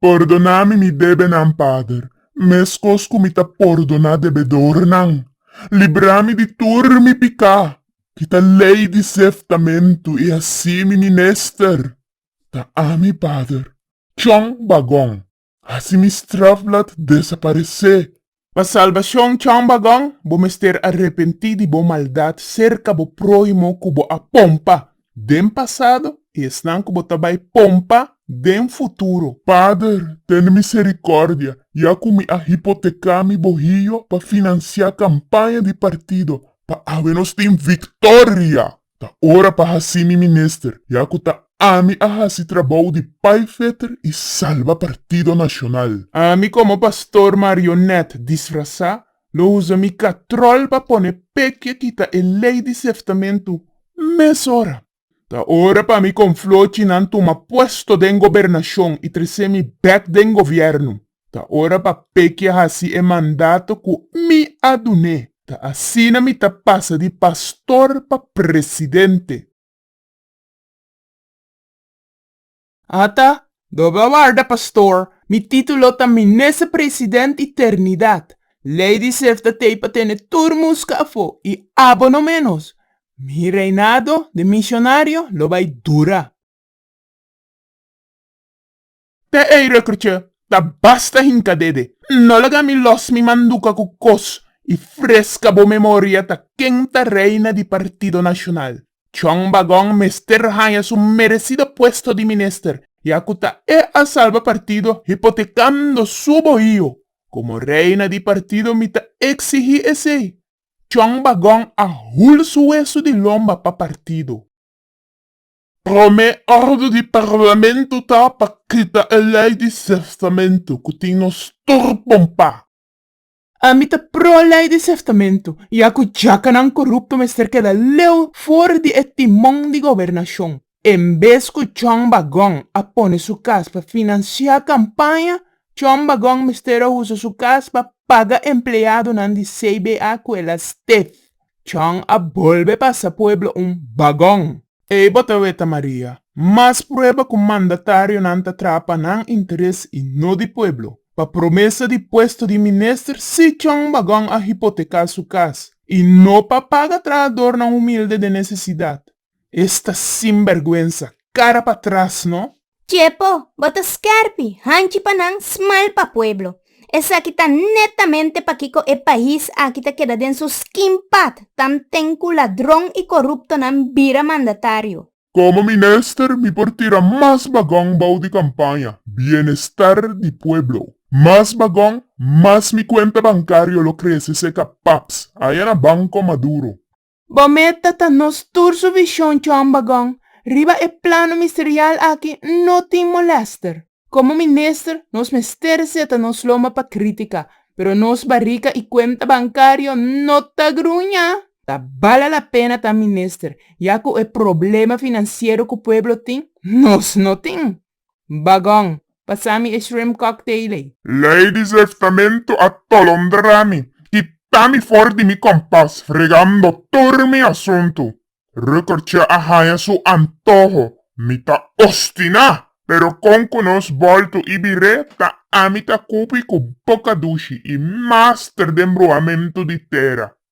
Pòrdoná mi mi debenan, Pader, meskos ku mi ta pòrdoná debedornan. Libra mi di tur mi piká, kita lei di seftamentu i así mi minester ta ami, Pader. Chon Bagon. Así mi straf laat desaparecé. Pa salbacion chon bagon, bo mester a repentí di bo maldad cerca bo prohimo cu bo a pompa den pasado y esnan cu bo ta bay pompa den futuro. Pader, tene misericordia, ya cu mi a hipotecá mi bohillo pa financiá campaña di partido, pa awe nos tin victoria! Ta ora pa haci mi minister, ya cu ta ami a haci trabou di paiveter y salba partido nacional. Ami como pastor marionet disfraza lo uza mi catrol pa pone pekie kita e ley di seftamentu mes ora. Ta ora pa mi con flochi nan tuma puesto den gobernacion y trece mi bek den gobierno. Ta ora pa Pekia hasi e mandato ku mi a dun'é. Ta asina mi ta pasa di pastor pa presidente. Ata, Doble a warda, pastor. Mi título ta Minester President i Ternidat. Lei di Sefta t'ei pa tene tur muska afó i abo no ménos. Mi reinado den Misionario lo bai dura. Te ei rukkertje ta basta hinka dede. No laga mi los mi manduka ku kos i freska bo memoria ta ken ta reina di Partido Nashonal. Chong Bagong mester haña su meresido puesto di minister ya ku ta e a salba partido hipotekando su bohio. Komo reina di partido mi ta eksigí esei. Chong Bagong a hul su wesu di lomba pa partido. Promé òrdu di Parlamento ta pa kita e lei di seftamentu ku tin nos tur pompá. Ami ta pro lei di seftamentu, ya ku djakanan korupto mester keda leu for di e timon di gobernashon. En bes ku John Bagon a pone su kas pa finansiá kampaña, John Bagon mester a usa su kas pa paga empleadonan di CBA ku el a stef. John a bolbe pasa pueblo un Bagon. Ei bo ta weta Maria, mas prueba cu mandatarionan ta traha pa nan interes y no di pueblo. Pa promesa di puesto di minister si Chong Bagon a hipoteca su cas y no pa paga trahadornan humilde den necesidad. Esta sinbergüenza, cara pa tras no! Dje p'o, bo ta skèrpi hanchi pa nan, smal pa pueblo. Esaki ta netamente pakiko e pais aki ta keda den su skin pat, tan ten ku ladron i koruptonan bira mandatario. Komo minister mi por tira mas bagon bou di kampaña, bienestar di pueblo. Mas bagon, mas mi kuenta bankario lo krese seka paps, ayana banko maduro. Bo meta ta nos tur su vision John Bagon riba e plano misterial aki no tin molester. Como minister nos mester seta nos lomba pa critica pero nos barica y cuenta bancario no ta gruña. Ta bala la pena ta minister ya cu e problema financiero cu pueblo tin nos no tin. Bagon, pasami e shrimp cocktail ey. Lady Zeftamento a tolondrami y tami for di mi compas fregando tur mi asunto. Rukertje a haña su antoho, mi ta ostiná, pero con cu nos bolto y biré ta ami ta cupi cu boca dushi y master den bruhamento di tera.